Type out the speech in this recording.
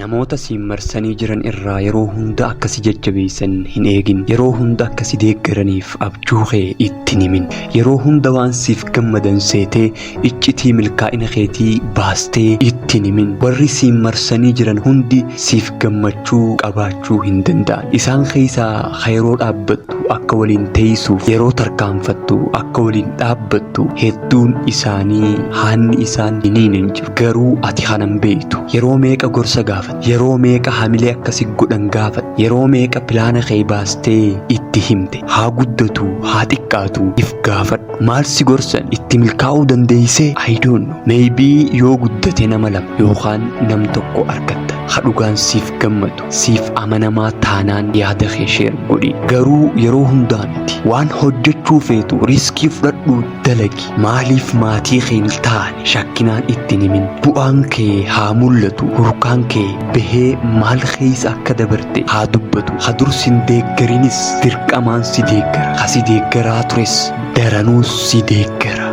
Namoota siin marsanii jiran irraa yeroo hunda akka si jajjabeessan hin eegin. Yeroo hunda akka si deeggaraniif abjuu kee itti hin himin. Yeroo hunda waan siif gammadan seetee iccitii milkaa'ina keetii baastee itti hin himin. Warri siin marsanii jiran hundi siif gammachuu qabaachuu hin danda'an. Isaan keessaa ka yeroo dhaabbattu akka waliin teessuuf, yeroo tarkaanfattu akka waliin dhaabbattu Duun isaanii haanni isaan hiniin hin jiru garuu ati hanan beektu yeroo meeqa gorsa gaafate yeroo meeqa hamilee akkasi godhan gaafate yeroo meeqa pilaana kee baastee itti himte haa guddatu haa xiqqaatu if gaafadhu maal si gorsan itti milkaa'uu dandeeysee ayidoonno meeybii yoo guddate nama lama yookaan nam tokko argatta ha dhugaan siif gammadu Siif amanamaa taanaan yaada kee sheer godhi. Garuu yeroo hundaa miti. Waan hojjechuu feetu riskii fudhadhuu dalagi. Maaliif maatii kee hin taane shakkinaan itti hin himin. Bu'aan kee haa mul'atu. Hurkaan kee bahee maal keessa akka dabarte haa dubbatu. Ha dur sin deeggarinis dirqamaan si deeggara. Ha si deeggaraa tures daranuu si deeggara.